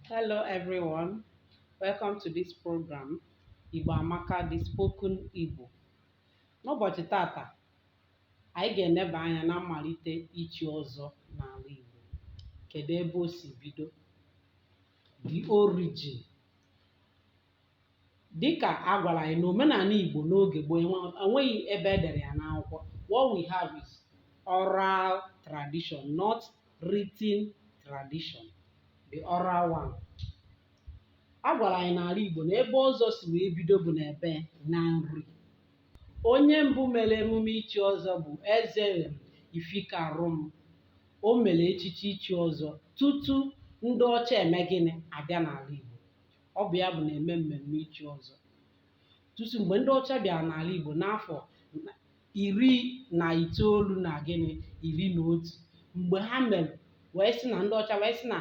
Hello everyone, welcome to this program Igbo Amaka the spoken Igbo. N'ụbọchị taata, anyị ga-eneba anya na mmalite ichi ọzọ n'ala Igbo. Kedu ebe o si bido? The origin. dịkà a gwàrà ànyị nà òmenàla ìgbò n'ogè gboo enweghị ebe e dèrè ya n'akwụkwọ what we have is oral tradition not written tradition the oral one a gwàrà ànyị n'àla ìgbò nà ebe ọzọ sì wee bido bụ n'ebe na nri onye mbụ mere emume ichi ọzọ bụ eze ifikarum o mere echichi ichi ọzọ tutu ndị ọcha eme gịnị abịa n'ala Igbo ọ bụ ya bụ na-eme mmemme ichi ọzọ tutu mgbe ndị ọcha bịara n'ala Igbo n'afọ na- iri na itoolu na gịnị iri na otu mgbe ha mere wee sị na ndị ọcha wee sị na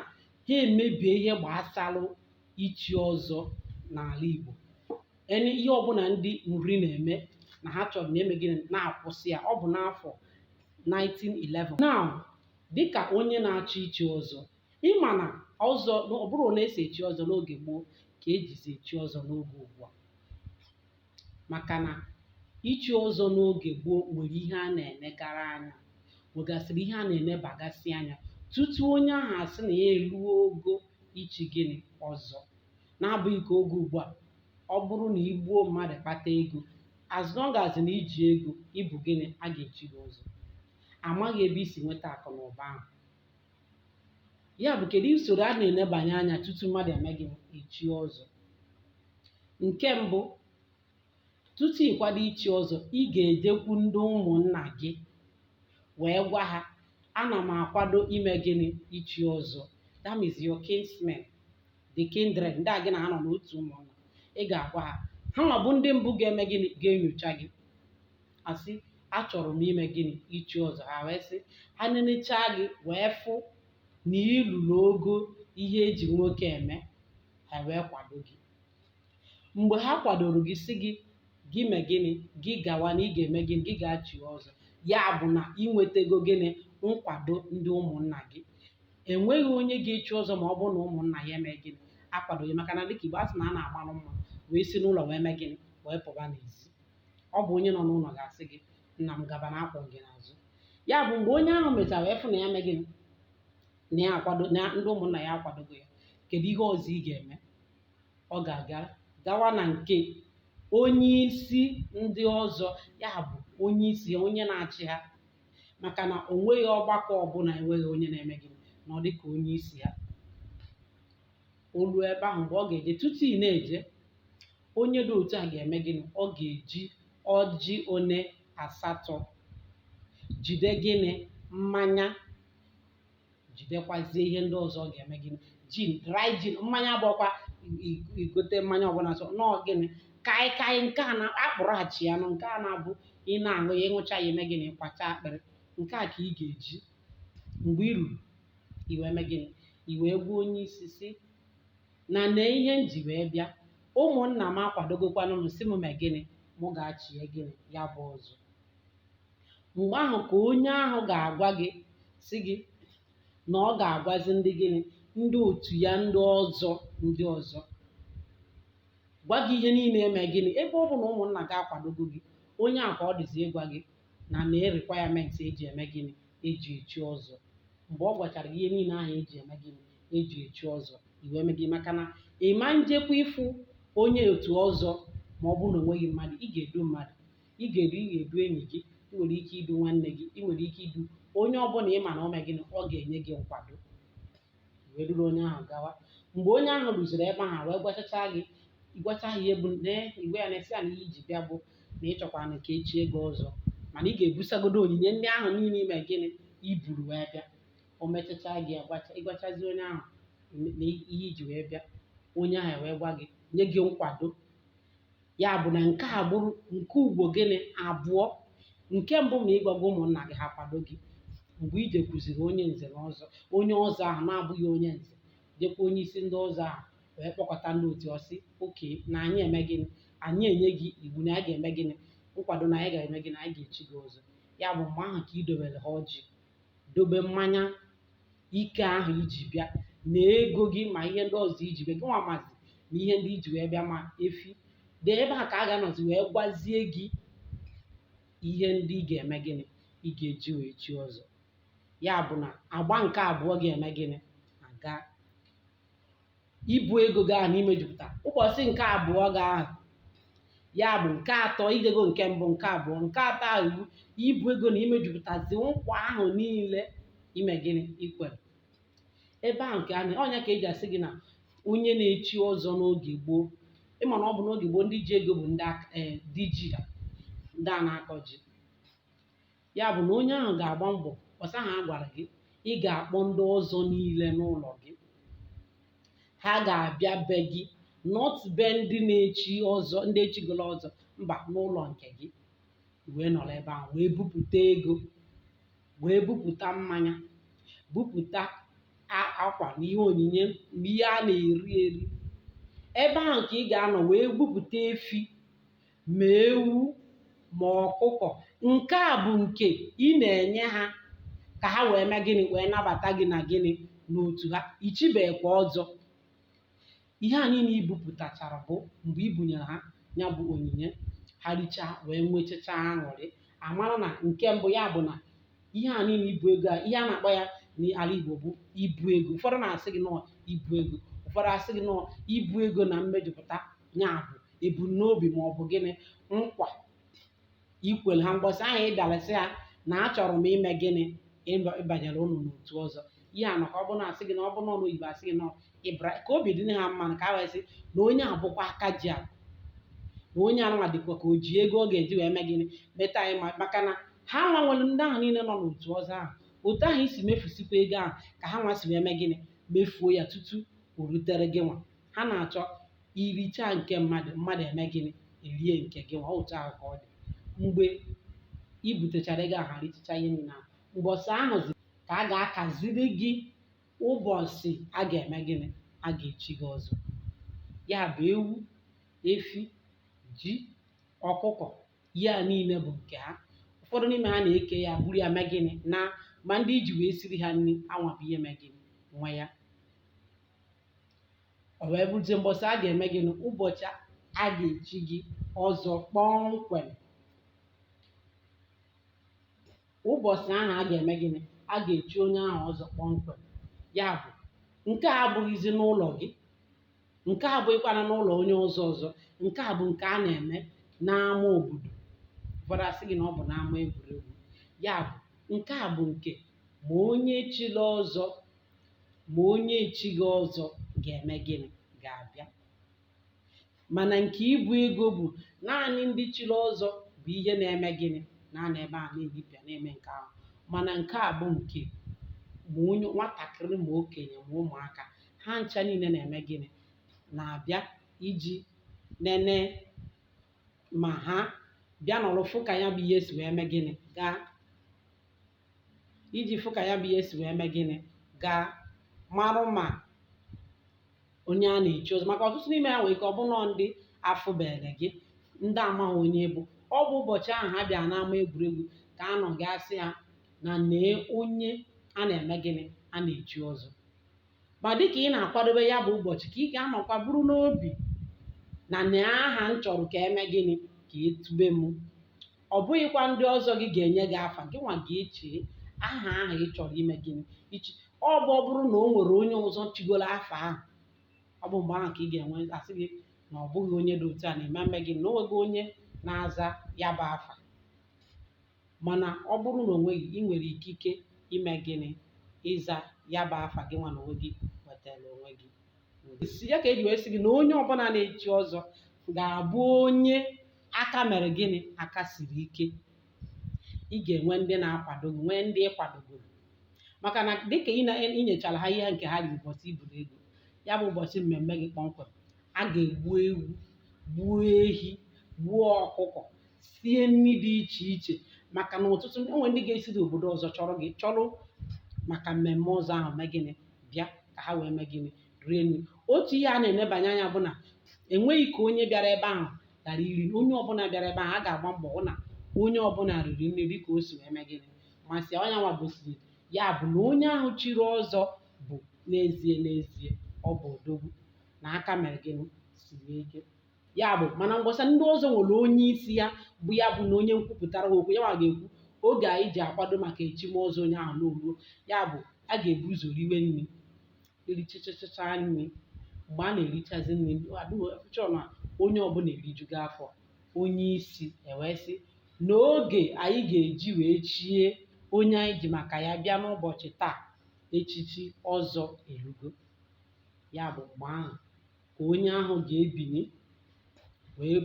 ha emebie ihe gbasara ichi ọzọ n'ala Igbo and ihe ọbụla ndị nri na-eme na ha chọrọ na-eme gịnị na-akwụsị ya ọ bụ n'afọ 1911 now dịka onye na-achọ ichi ọzọ ị ma na ọzọ na ọ bụrụ na e si echi ọzọ n'oge gboo ka e jizi echi ọzọ n'oge ugbu a maka na ichi ọzọ n'oge gboo nwere ihe a na-enegara anya nwegasịrị ihe a na-enebagasị anya tutu onye ahụ asị na ya eruo ogo ichi gịnị ọzọ na-abụghị ka oge ugbu a ọ bụrụ na i gbuo mmadụ kpata ego as long as na i ji ego ị bụ gịnị a ga-echi gị ọzọ amaghị ebe i si nweta akụ na ụba ahụ ya bụ kedu usoro a na-enebanye anya tutu mmadụ eme gịnị echie ọzọ nke mbụ tutu ị kwado ichi ọzọ ị ga-ejekwu ndị ụmụnna gị wee gwa ha ana m akwado ime gịnị ichi ọzọ that means your kinsmen the kindred ndị a gị na ha nọ n'otu ụmụnna ị ga-agwa ha ha nwa bụ ndị mbụ ga-eme gịnị ga-enyocha gị asị achọrọ m ime gịnị ichi ọzọ ha wee sị ha nenechaa gị wee fụ na i lulu ogo ihe e ji nwoke eme ha wee kwado gị mgbe ha kwadoro gị sị gị gị mee gịnị gị gawa na ị ga-eme gịnị gị ga-echi ọzọ ya bụ na ị nwetago gịnị nkwado ndị ụmụnna gị enweghị onye ga-echi ọzọ ma ọ bụrụ na ụmụnna ya eme gịnị akwadoghị maka na dịka Igbo asị na a na-agbalụ mma wee si n'ụlọ wee mee gịnị wee pụba n'ezi ọ bụ onye nọ n'ụlọ ga-asị gị nna m gaba na akwọ m gị n'azụ ya bụ mgbe onye ahụ mechara wee fụ na ya mee gịnị na ya akwado na ndị ụmụnna ya akwadogo ya kedu ihe ọzọ ị ga-eme ọ ga-aga gawa na nke onye isi ndị ọzọ ya bụ onye isi ha onye na-achị ha maka na o nweghị ọgbakọ ọbụla enweghị onye na-eme gịnị na ọ dịka onye isi ha o ruo ebe ahụ mgbe ọ ga-eje tutu ị na-eje onye dị otu a ga-eme gịnị ọ ga-eji ọjị one asatọ jide gịnị mmanya jidekwazie ihe ndị ọzọ ọ ga-eme gịnị gin dry gin mmanya bụkwa i- igote mmanya ọbụla sọ nọọ gịnị kaịkaị nke a na-akpụrụ achịa nụ nke a na-abụ ị na-aṅụ ya ịṅụcha ya eme gịnị kwacha akpịrị nke a ka ị ga-eji Mgbe i ruru, i wee mee gịnị? I wee gwa onye isi sị na nee ihe m ji wee bịa. Ụmụnna m akwadogokwanụ m sị m mee gịnị? Mụ gaa chie gịnị? Ya bụ ọzọ. Mgbe ahụ ka onye ahụ ga-agwa gị sị gị na ọ ga-agwazi ndị gịnị? Ndị otu ya ndị ọzọ ndị ọzọ. Gwa gị ihe niile eme gịnị? Ebe ọ bụ na ụmụnna gị akwadogo gị, onye ahụ ka ọ dịzi ịgwa gị na main requirement eji eme gịnị eji echi ọzọ mgbe ọ gwachara gị ihe niile ahụ eji eme gịnị eji echi ọzọ i wee mee gịnị maka na ị ma njekwa ịfụ onye otu ọzọ ma ọ bụrụ na o nweghị mmadụ ị ga-edu mmadụ ị ga-edu ị ga-edu enyi gị ị nwere ike idu nwanne gị ị nwere ike idu onye ọbụla ị ma na ọ mee gịnị ọ ga-enye gị nkwado wee duru onye ahụ gawa mgbe onye ahụ ruziri ebe ahụ wee gwachacha gị ịgwacha ha ihe bụ na i wee na-asị ya na ihe iji bịa bụ na ịchọkwana ka echie gị ọzọ mana ị ga-ebusagodo onyinye ndị ahụ niile ime gịnị iburu wee bịa o mechacha gị agwacha ịgwachazi onye ahụ na ihe iji wee bịa onye ahụ wee gwa gị nye gị nkwado ya bụ na nke a bụrụ nke ugbo gịnị abụọ nke mbụ ma ịgwago ụmụnna gị ha kwado gị mgbe i jekwuziri onye nze na ọzọ onye ọzọ ahụ na-abụghị onye nze jekwa onye isi ndị ọzọ ahụ wee kpọkọta ndị otu ọ sị okay na anyị eme gịnị anyị enye gị iwu na anyị ga-eme gịnị nkwado na anyị ga-eme gịnị anyị ga-echi gị ọzọ ya bụ mgbe ahụ ka idobere ha ọjị dobe mmanya ike ahụ iji bịa na ego gị ma ihe ndị ọzọ iji bịa gịnwa mazi na ihe ndị iji wee bịa ma efi dee ebe a ka a ga-anọzi wee gwazie gị ihe ndị ị ga-eme gịnị ị ga-eji wee chi ọzọ ya bụ na agba nke abụọ ga-eme gịnị aga ibu ego gị ahụ na imejupụta ụbọchị nke abụọ gị ahụ ya bụ nke atọ i jego nke mbụ nke abụọ nke atọ ahụ bụ ibu ego na imejupụtazi nkwa ahụ niile ime gịnị ikwere ebe ahụ ka a na ọ nya ka eji asị gị na onye na-echi ọzọ n'oge gboo ịma na ọ bụ n'oge gboo ndị ji ego bụ ndị aka- eh, diji ya ndị a na-akọ ji Ya bụ na onye ahụ ga-agba mbọsị ahụ a gwara gị ị ga-akpọ ndị ọzọ niile n'ụlọ gị ha ga-abịa be gị not be ndị na-echi ọzọ ndị echigolo ọzọ mba n'ụlọ nke gị wee nọrọ ebe ahụ wee bupụta ego wee bupụta mmanya bupụta a- akwa na ihe onyinye na ihe a na-eri eri ebe ahụ ka ị ga-anọ wee bupụta efi ma ewu ma ọkụkọ nke a bụ nke ị na-enye ha ka ha wee mee gịnị wee nabata gị na gịnị n'otu ha ichibekwa ọzọ ihe a niile ibupụtachara bụ mgbe ibunyere ha ya bụ onyinye ha richaa wee nwechacha aṅụrị a mara na nke mbụ ya bụ na ihe a niile ibu ego a ihe a na-akpọ ya n'ala Igbo bụ ibu ego ụfọdụ na-asị gị na ọọ ibu ego ụfọdụ asị gị na ọọ ibu ego na mmejupụta ya bụ ebumnobi ma ọ bụ gịnị nkwa ikwere ha mgbọsị ahụ ị bịara sị ha na achọrọ m ime gịnị ịba- ịbanyere ụnụ n'otu ọzọ ihe a maka ọ bụ na asị gị na ọ bụ n'ọnụ oyibo asị gị na ịbra ka obi dị ha mma na ka a wee sị na onye a bụkwa aka ji a na onye anụnwa dịkwa ka o ji ego ọ ga-eji wee mee gịnị meta anyị ma- maka na ha nwa nwere ndị ahụ niile nọ n'otu ọzọ ahụ otu ahụ i si mefusikwa ego ahụ ka ha nwa si wee mee gịnị mefuo ya tutu o rutere gị nwa ha na-achọ iricha nke mmadụ mmadụ eme gịnị erie nke gị nwa otu ahụ ka ọ dị mgbe i butechara ego ahụ richicha ihe niile ahụ ụbọchị ahụzi ka a ga-akaziri gị ụbọchị a ga-eme gịnị a ga-echi gị ọzọ ya bụ ewu efi ji ọkụkọ ihe a niile bụ nke ha ụfọdụ n'ime ha na-eke ya buru ya mee gịnị naa ma ndị iji wee siri ha nri ha nwa bụ ihe mee gịnị nwe ya o wee bụrụzie mbọsị a ga-eme gịnị ụbọchị a ga-echi gị ọzọ kpọmkwem ụbọchị ahụ a ga-eme gịnị a ga-echi onye ahụ ọzọ kpọmkwem ya bụ nke a abụghịzi n'ụlọ gị nke a abụghịkwana n'ụlọ onye ọzọ ọzọ nke a bụ nke a na-eme n'ama obodo ụfọdụ asị gị na ọ bụ n'ama egwuregwu ya bụ nke a bụ nke ma onye chiri ọzọ ma onye echighị ọzọ ga-eme gịnị ga-abịa mana nke ibu ego bụ naanị ndị chiri ọzọ bụ ihe na-eme gịnị na-anọ ebe a na-eripịa na-eme nke ahụ mana nke a bụ nke ma onye nwatakịrị ma okenye ma ụmụaka ha ncha niile na-eme gịnị na-abịa iji nene ma ha bịa nọrọ fụ ka ya bụ ihe si wee mee gịnị gaa iji fụ ka ya bụ ihe si wee mee gịnị gaa marụ ma onye a na-echi ọzọ maka ọtụtụ n'ime ha nwere ike ọ bụrụ nnọọ ndị afụbere gị ndị amaghị onye bụ ọ bụ ụbọchị ahụ ha bịa n'ama egwuregwu ka a nọ ga-asị ha na nee onye a na-eme gịnị a na-echi ọzọ ma dịka ị na-akwadobe ya bụ ụbọchị ka ị ga-anọkwa buru n'obi na nee aha m chọrọ ka e mee gịnị ka e tube m ọ bụghịkwa ndị ọzọ gị ga-enye gị afa gị nwa ga-eche aha ahụ ị chọrọ ime gịnị ichi ọ bụ ọ bụrụ na o nwere onye ọzọ chigoro afa ahụ ọ bụ mgbe ahụ ka ị ga-enwe asị gị na ọ bụghị onye dị otu a na-eme mme gị na o nweghị onye na-aza ya bụ afa Mana ọ bụrụ na o nweghị, i nwere ikike ime gịnị? Ịza ya bụ afa gịnwa na onwe gị wetaara onwe gị. Ya ka e ji wee sị gị na onye ọbụla na-echi ọzọ ga-abụ onye aka mere gịnị? Aka siri ike. Ị ga-enwe ndị na-akwado gị, nwee ndị ị kwadogoro. Maka na dịka ị na- ị nyechara ha ihe nke ha riri ụbọchị i buru ego, ya bụ ụbọchị mmemme gị kpọmkwem, a ga-egbu ewu, gbuo ehi, gbuo ọkụkọ, sie nri dị iche iche maka na ọtụtụ enwe ndị ga-esi n'obodo ọzọ chọrọ gị chọrọ maka mmemme ọzọ ahụ mee gịnị bịa ka ha wee mee gịnị rie nri otu ihe a na-enebanye anya bụ na enweghị ka onye bịara ebe ahụ ghara iri na onye ọbụla bịara ebe ahụ a ga-agba mbọ hụ na onye ọbụla riri nri dịka o si wee mee gịnị masị onye nwa gosiri ya bụ na onye ahụ chiri ọzọ bụ n'ezie n'ezie ọ bụ odogwu na aka mere gịnị siri ike ya bụ mana mgbasa ndị ọzọ nwere onye isi ya bụ ya bụ na onye nkwupụtara ha okwu ya nwa ga-ekwu oge anyị ji akwado maka echim ọzọ onye ahụ na o ruo ya bụ a ga-ebu ụzọ riwe nri erichachachacha nri mgbe a na-erichazi nri adịghịchọ na onye ọbụla erijugo afọ onye isi ewee sị na oge anyị ga-eji wee chie onye anyị ji maka ya bịa n'ụbọchị taa echichi ọzọ erugo ya bụ mgbe ahụ ka onye ahụ ga-ebinye wee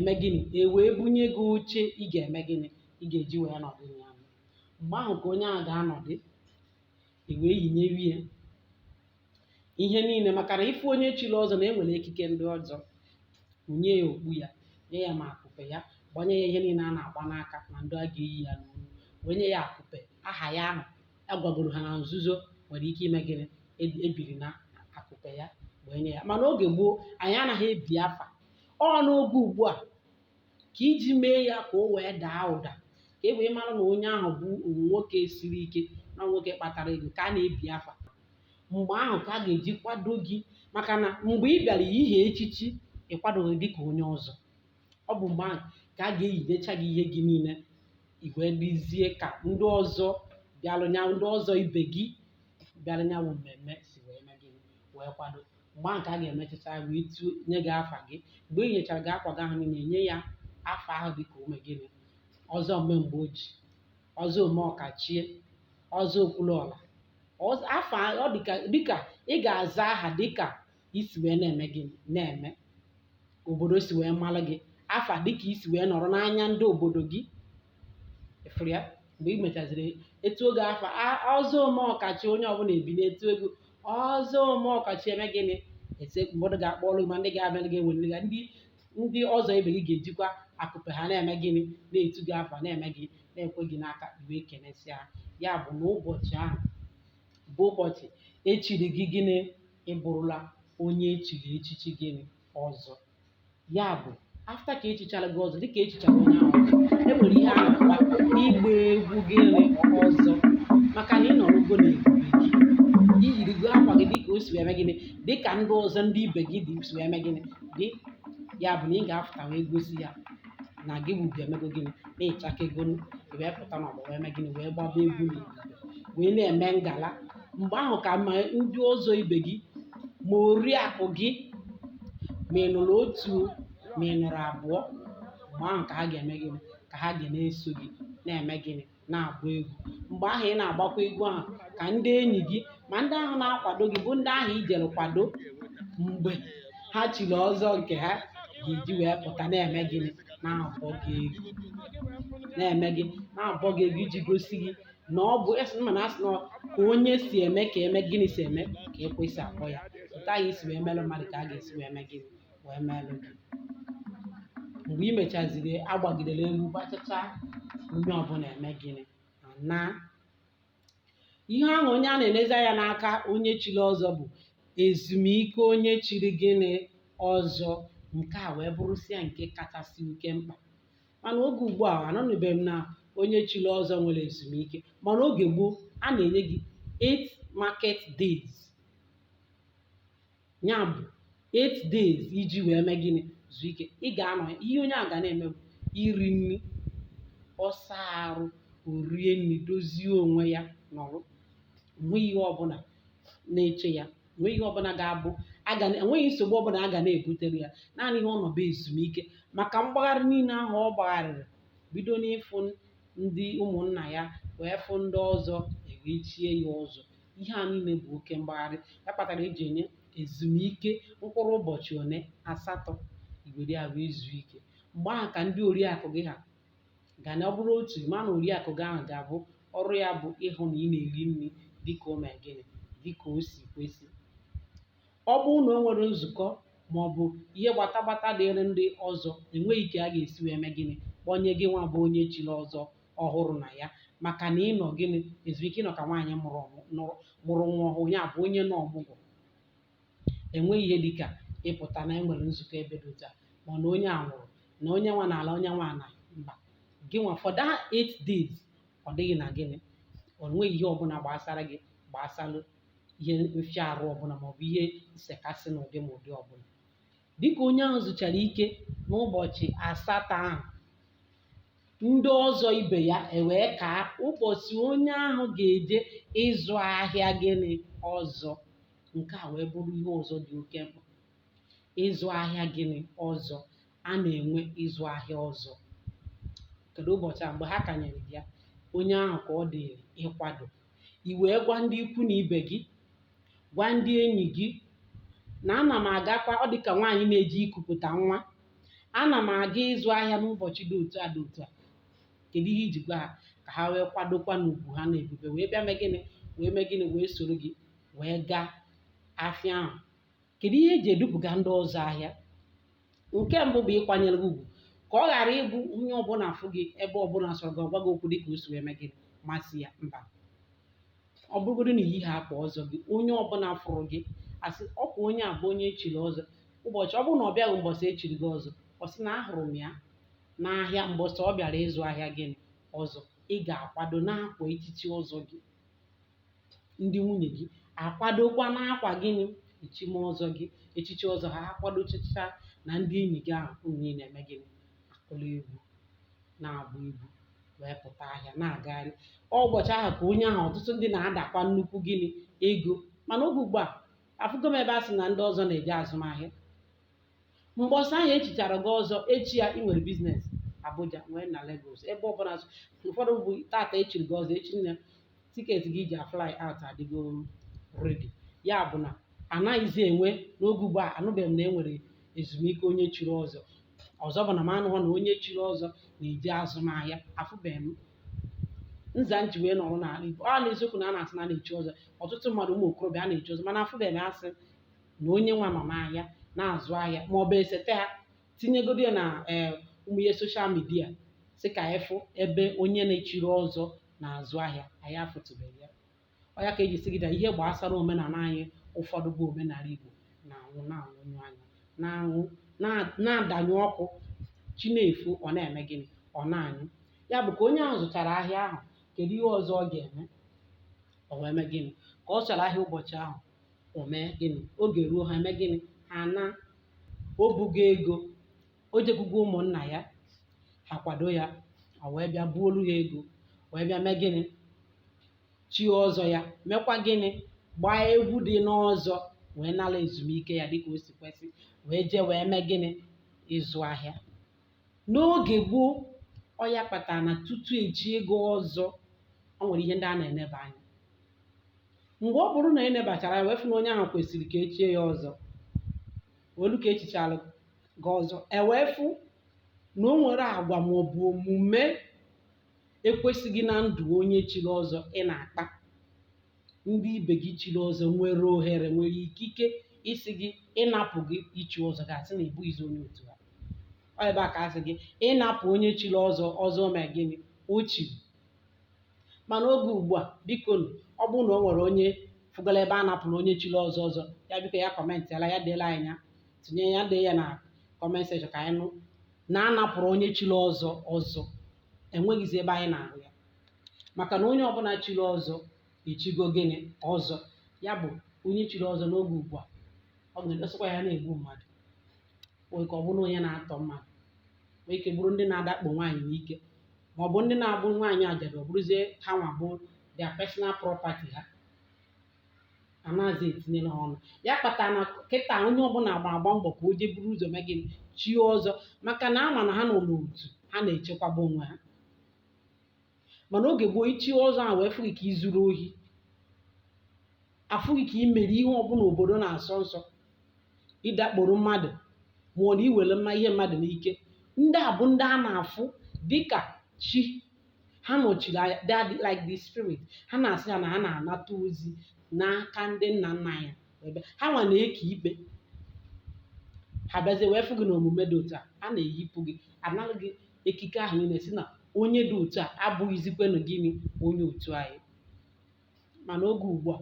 mee gịnị e wee bunye gị oche ị ga-eme gịnị ị ga-eji wee nọdụ na ya mgbe ahụ ka onye ahụ ga-anọdụ e wee yinyewe ya ihe niile maka na ife onye chiri ọzọ na-enwere ekike ndị ọzọ nye ya okpu ya nye ya ma akụpe ya gbanye ya ihe niile a na-agba n'aka na ndị a ga-eyi ya n'olu wee nye ya akụpe aha ya ahụ a gwagoro ha na nzuzo nwere ike ime gịnị ebiri na akụpe ya wee nye ya mana oge gboo anyị anaghị ebi afa ọ n'oge ugbu a ka iji mee ya ka o wee daa ụda ka e wee mara na onye ahụ bụ nwoke siri ike na nwoke kpatara ego ka a na-ebi afa mgbe ahụ ka a ga-eji kwado gị maka na mgbe ị bịara ihe echichi ịkwadoghị dị ka onye ọzọ ọ bụ mgbe ahụ ka a ga-eyinyecha gị ihe gị niile i wee dịzie ka ndị ọzọ bịalụ nya ndị ọzọ ibe gị bịalụ nya bụ mmemme si wee mee gị wee kwado mgbe ahụ ka a ga-emechacha wee tunye gị afa gị mgbe e yinyechara gị akwa gị ahụ niile e nye ya afa ahụ dị ka ome gịnị ọzọ ome mgbe oji ọzọ ome ọkachie ọzọ okwuluọra ọzọ- afa ọ dịka dịka ị ga-aza aha dịka i si wee na-eme gịnị na-eme obodo si wee mara gị afa dịka i si wee nọrọ n'anya ndị obodo gị ị fụrụ ya mgbe e mechaziri e tuo gị afa a- ọzọ ome ọkachie onye ọbụla ebinie tuo gị ọzọ ome ọkachie eme gịnị ese mmadụ ga-akpọrọ gị ma ndị ga-abịa gị ewelere gị ndị ndị ọzọ ibe gị ga-ejikwa akụpe ha na-eme gịnị na-etu gị afa na-eme gị na-ekwe gị n'aka i wee kenesịa ya bụ na ụbọchị ahụ bụ ụbọchị echiri gị gịnị ị bụrụla onye echiri echichi gịnị ọzọ ya bụ afta ka echichara gị ọzọ dịka echichara onye ahụ ọzọ e nwere ihe a na-akpọ ịgba egwu gịnị ọzọ maka na ị nọrọgo n'ebube gị i yirigo akwa gị dịka o si wee eme gịnị dịka ndị ọzọ ndị ibe gị dị si wee eme gịnị dị ya bụ na ị ga-apụta wee gosi ya na gị bụ ugo emego gịnị na ị chakego wee pụta n'ọgbọ wee eme gịnị wee gbaba egwu n'ebube wee na-eme ngala mgbe ahụ ka ma ndị ọzọ ibe gị ma oriakụ gị ma ị nụrụ otu ma ị nụrụ abụọ mgbe ahụ ka ha ga-eme gịnị ka ha ga na-eso gị na-eme gịnị na-agba egwu mgbe ahụ ị na-agbakwa egwu ahụ ka ndị enyi gị ma ndị ahụ na-akwado gị bụ ndị ahụ i jere kwado mgbe ha chiri ọzọ nke ha ga-eji wee pụta na-eme gịnị na-abọ gị egwu na-eme gị na-abọ gị egwu iji gosi gị na ọ bụ esi mma na a sị na ka onye si eme ka eme gịnị si eme ka ekwe si akpọ ya otu anyị si wee melụ mmadụ ka a ga-esi wee mee gịnị wee melụ gị mgbe e mechaziri a gbagidere egwu gbachacha onye ọbụla eme gịnị ọ na ihe ahụ onye a na-enezi anya n'aka onye chiri ọzọ bụ ezumike onye chiri gịnị ọzọ nke a wee bụrụsịa nke kachasị oke mkpa mana oge ugbu a anụnụbeghị m na onye chiri ọzọ nwere ezumike mana oge gboo a na-enye gị 8 market days ya bụ 8 days iji wee mee gịnị zuo ike ị ga-anọ ya ihe onye a ga na-eme bụ iri nri ọ saa arụ o rie nri dozie onwe ya nọrọ nwe ihe ọbụla na-eche ya enweghị ihe ọbụla ga-abụ enweghị nsogbu ọbụla a ga na-ebutere ya naanị ihe ọ nọ bụ ezumike maka mgbagharị niile ahụ ọ gbagharịrị bido n'ịfụ ndị ụmụnna ya wee fụ ndị ọzọ ewee chie ya ọzọ ihe a niile bụ oke mgbagharị ya kpatara eji enye ezumike mkpụrụ ụbọchị one asatọ i were ya wee zuo ike mgbe ahụ ka ndị oriakụ gị ha ga na ọ bụrụ otu ma na oriakụ gị ahụ ga-abụ ọrụ ya bụ ịhụ na ị na-eri nri dịka o mee gịnị dịka o si kwesị ọ bụrụ na o nwere nzukọ ma ọ bụ ihe gbata gbata dịrị ndị ọzọ enweghị ka a ga-esi wee mee gịnị kpọnye gị nwa bụ onye chiri ọzọ ọhụrụ na ya maka na ị nọ gịnị ezumike ị nọ ka nwaanyị mụrụ nwa ọhụụ ya bụ onye nọ ọmụgwọ enweghị ihe dịka ịpụta na enwere nzukọ ebe dị otu a ma ọ na onye a nwụrụ na onye nwa n'ala onye nwa na mba gị nwa for that eight days ọ dịghị na gịnị ọ nweghị ihe ọbụla gbasara gị gbasalụ ihe mfịa arụ ọbụla maọbụ ihe nsekasị n'ụdị ma ụdị ọbụla dịka onye ahụ zuchara ike n'ụbọchị asatọ ahụ ndị ọzọ ibe ya ewee kaa ụbọchị onye ahụ ga-eje ịzụ ahịa gịnị ọzọ nke a wee bụrụ ihe ọzọ dị oke mkpa ịzụ ahịa gịnị ọzọ a na-enwe ịzụ ahịa ọzọ kedu ụbọchị a mgbe ha kanyere ya onye ahụ ka ọ dịrị ịkwado i wee gwa ndị ikwu na ibe gị gwa ndị enyi gị na ana m agakwa ọ dịka nwaanyị na-eje ikupụta nwa ana m aga ịzụ ahịa n'ụbọchị dị otu a dị otu a kedu ihe i ji gwa ha ka ha wee kwadokwa n'ugwu ha na ebube wee bịa mee gịnị wee mee gịnị wee soro gị wee gaa afịa ahụ kedu ihe eji edupụga ndị ọzọ ahịa nke mbụ bụ ịkwanyere gị ugwu ka ọ ghara ịbụ onye ọbụla afụ gị ebe ọbụla sọrọ gị ọ gwa gị okwu dịka o si wee mee gịnị masị ya mba ọ bụrụgodo na i yighị akwa ọzọ gị onye ọbụla fụrụ gị asị ọkwa onye a bụ onye echiri ọzọ ụbọchị ọ bụrụ na ọ bịaghị mbọsị echiri gị ọzọ ọ sị na ahụrụ m ya n'ahịa mbọsị ọ bịara ịzụ ahịa gịnị ọzọ ị ga-akwado n'akwa echichi ọzọ gị ndị nwunye gị akwadokwa n'akwa gịnị echime ọzọ gị echichi ọzọ ha akwadochacha na ndị enyi gị ahụ unu niile eme gịnị akụla egwu na-agba egwu wee pụta ahịa na-agagharị ọ ụbọchị ahụ ka onye ahụ ọtụtụ ndị na-adakwa nnukwu gịnị ego mana oge ugbu a afụgo m ebe a sị na ndị ọzọ na-eje azụmahịa mbọsị ahụ echichara gị ọzọ echi ya ị nwere biznes Abuja nwee na Lagos ebe ọ bụla ụfọdụ bụ tata echiri gị ọzọ echi na tiketi gị ji afly out adịgo redi ya bụ na anaghịzi enwe n'oge ugbu a anụbeghị m na e nwere ezumike onye chiri ọzọ ọzọ bụ na m anụghọ na onye chiri ọzọ na-eje azụ ahịa afụbeghị m nza m ji wee nọrọ n'ala Igbo ọ n'eziokwu na a na-asị na a na-echi ọzọ ọtụtụ mmadụ ụmụ okorobịa a na-echi ọzọ mana afụbeghị m asị na onye nwa nọ n'ahịa na-azụ ahịa ma ọ bụ e sete ya tinyegodu ya na ee ụmụ ihe soshal midia sị ka anyị fụ ebe onye nwa chiri ọzọ na-azụ ahịa anyị afụtụbeghị ya ọ ya ka eji sị gị na ihe gbasara omenala anyị ụfọdụ bụ omenala Igbo na-anwụ na-anwụnyụ anya na-anwụ na- na-adanyụ ọkụ chi na-efo ọ na-eme gịnị ọ na-anyụ ya bụ ka onye ahụ zụchara ahịa ahụ kedu ihe ọzọ ọ ga-eme ọ wee mee gịnị ka ọ chara ahịa ụbọchị ahụ o mee gịnị oge ruo ha eme gịnị ha na o bugo ego o jekwugo ụmụnna ya ha kwado ya o wee bịa buolu ha ego wee bịa mee gịnị chie ọzọ ya mekwa gịnị gbaa egwu dị n'ọzọ wee nala ezumike ya dịka o si kwesị wee jee wee mee gịnị ịzụ ahịa N'oge gboo, ọ ya kpatara na tutu e chie gị ọzọ, o nwere ihe ndị a na-eneba anya. Mgbe ọ bụrụ na e nebachara anya wee fụ na onye ahụ kwesịrị ka e chie ya ọzọ, o lu ka e chichalụ gị ọzọ, e wee fụ na o nwere agwa ma ọ bụ omume ekwesịghị na ndụ onye chiri ọzọ ị na-akpa. ndị ibe gị chiri ọzọ nwere ohere nwere ikike ịsị gị ịnapụ gị ichi ọzọ gị asị na ị bụghịzi onye otu ha ọ ebe a ka asị gị ịnapụ onye chiri ọzọ ọzọ mee gịnị o chiri mana oge ugbu a biko nụ, ọ bụrụ na o nwere onye fụgoro ebe a napụrụ onye chiri ọzọ ọzọ ya biko ya kọmentịala ya deela anyị ya tinye ya dee ya na kọment sekshọn ka anyị nụ na a napụrụ onye chiri ọzọ ọzọ enweghịzi ebe anyị na-ahụ ya maka na onye ọbụla chiri ọzọ echigo gịnị ọzọ ya bụ onye chiri ọzọ n'oge ugbu a ọ ga-edosịkwa ya na-egbu mmadụ nwee ike ọ bụrụ onye na-atọ mmadụ nwee ike bụrụ ndị na-adakpo nwaanyị n'ike ma ọ bụ ndị na-abụ nwaanyị ajadu ọ bụrụzie ha nwa bụ their personal property ha anaghịzi etinyere ha ọnụ ya kpatara na kịta onye ọbụla agba agba mbọ ka o jee buru ụzọ mee gịnị chie ọzọ maka na a ma na ha nọ n'otu ha na-echekwaba onwe ha mana oge gboo ichie ọzọ ahụ wee fụ gị ka izuru ohi a fụ gị ka imere ihe ọbụla obodo na-asọ nsọ ịdakporo mmadụ ma ọ bụ na iwere mma ihe mmadụ n'ike ndị a bụ ndị a na-afụ dịka chi ha nọchiri anya they are like the spirit ha na-asị ya na ha na-anata ozi n'aka ndị nna nna anyị ebe ha nwa na-eke ikpe ha bịazie wee fụ gị na omume dị otu a a na-eyipụ gị analụ gị ekike ahụ niile sị na onye dị otu a abụghịzikwenụ gịnị onye otu anyị mana oge ugbu a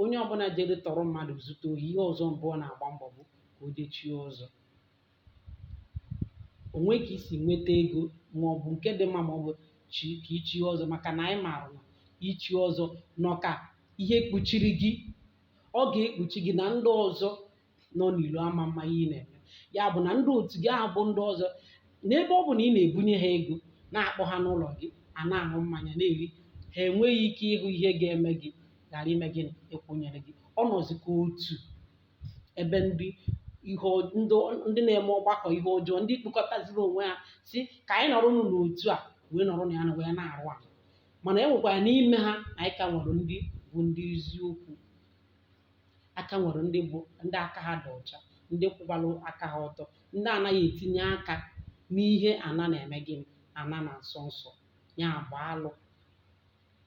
onye ọbụla jere tọrọ mmadụ zute ohi ihe ọzọ mbụ ọ na-agba mbọ bụ ka o je chie ọzọ o nwe ka isi nweta ego ma ọ bụ nke dị mma ma ọ bụ chi ka ichie ọzọ maka na anyị maara na ichi ọzọ nọ ka ihe kpuchiri gị ọ ga-ekpuchi gị na ndị ọzọ nọ n'ilo ama ama ihe ị na-eme ya bụ na ndị otu gị ahụ bụ ndị ọzọ n'ebe ọ bụ na ị na-ebunye ha ego na-akpọ ha n'ụlọ gị a na-aṅụ mmanya na-eri ha enweghị ike ịhụ ihe ga-eme gị ghara ime gịnị ịkwụnyere gị ọ nọzi ka otu ebe ndị ihe ọ- ndị ọ- ndị na-eme ọgbakọ ihe ọjọọ ndị kpụkọtaziri onwe ha sị ka anyị nọrọ nụ n'otu a wee nọrọ na ya na wee na-arụ ala mana e nwekwara n'ime ha anyị ka nwere ndị bụ ndị eziokwu a ka nwere ndị bụ ndị aka ha dị ọcha ndị kwụbara aka ha ọtọ ndị anaghị etinye aka n'ihe ana na-eme gịnị ana na-asọ nsọ ya bụ alụ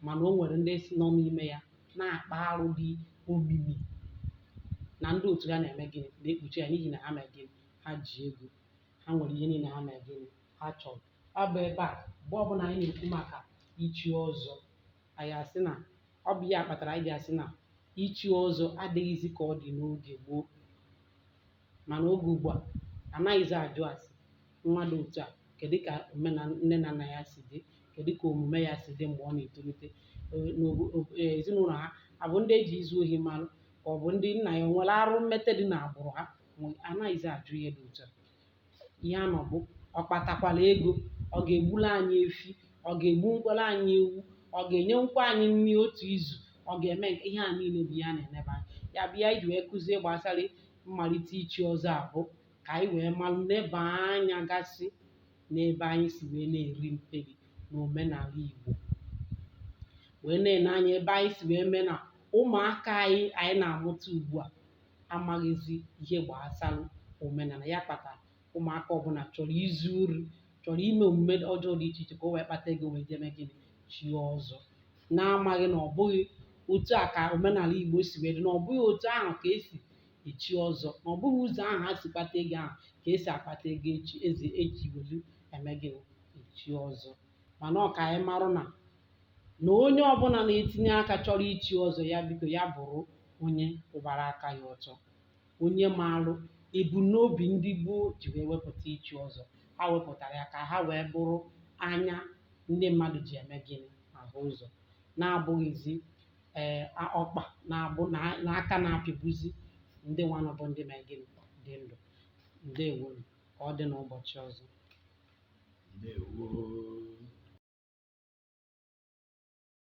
mana o nwere ndị si nọ n'ime ya na-akpa arụ dị omimi na ndị otu ha na-eme gịnị na-ekpuchi ya n'ihi na ha mere gịnị ha ji ego ha nwere ihe niile ha mere gịnị ha chọrọ ọ bụ ebe a mgbe ọbụla anyị na-ekwu maka ichi ọzọ anyị asị na ọ bụ ya kpatara anyị ji asị na ichi ọzọ adịghịzi ka ọ dị n'oge gboo mana oge ugbu a anaghịzi ajụ ase nwa dị otu a kedu ka omenala nne na nna ya si dị kedu ka omume ya si dị mgbe ọ na-etolite Ee, n'obo- ob- ee, ezinụlọ ha abụ ndị eji izu ohi malụ ka ọ bụ ndị nna ya o nwere arụ mmete dị n'agbụrụ ha Ma anaghịzi ajụ ihe dị otu a ihe a nọ bụ ọ kpatakwara ego ọ ga-egburu anyị efi ọ ga-egbunwukwara anyị ewu ọ ga-enyenwukwa anyị nri otu izu ọ ga-eme nke ihe a niile bụ ihe a na-enebe anya ya bụ ihe anyị ji wee kụzie gbasara mmalite ichi ọzọ a bụ ka anyị wee malụ neba anya gasị n'ebe anyị si wee na-eri mperi n'omenala Igbo wee na-ene anya ebe anyị si wee mee na ụmụaka anyị anyị na-amụta ugbu a amaghịzi ihe gbasara omenala ya kpata ụmụaka ọbụla chọrọ izu ori chọrọ ime omume ọjọọ dị iche iche ka o wee kpata ego wee je mee gịnị chie ọzọ na-amaghị na ọ bụghị otu a ka omenala Igbo si wee dị na ọ bụghị otu ahụ ka esi echi ọzọ na ọ bụghị ụzọ ahụ ha si kpata ego ahụ ka esi akpata ego ee eji welu eme gịnị echi ọzọ mana ọ ka anyị marụ na na onye ọbụla na-etinye aka chọrọ ichi ọzọ ya biko ya bụrụ onye kwụbara aka ya ọtọ onye maalụ ebumnobi ndị gboo ji wee wepụta ichi ọzọ ha wepụtara ya ka ha wee bụrụ anya ndị mmadụ ji eme gịnị ahụ ụzọ na-abụghịzi ee a- ọkpa na-abụ na- na aka na-apịgbuzi ndị nwanụ bụ ndị mee gịnị dị ndụ ndewonu ka ọ dị n'ụbọchị ọzọ ndewo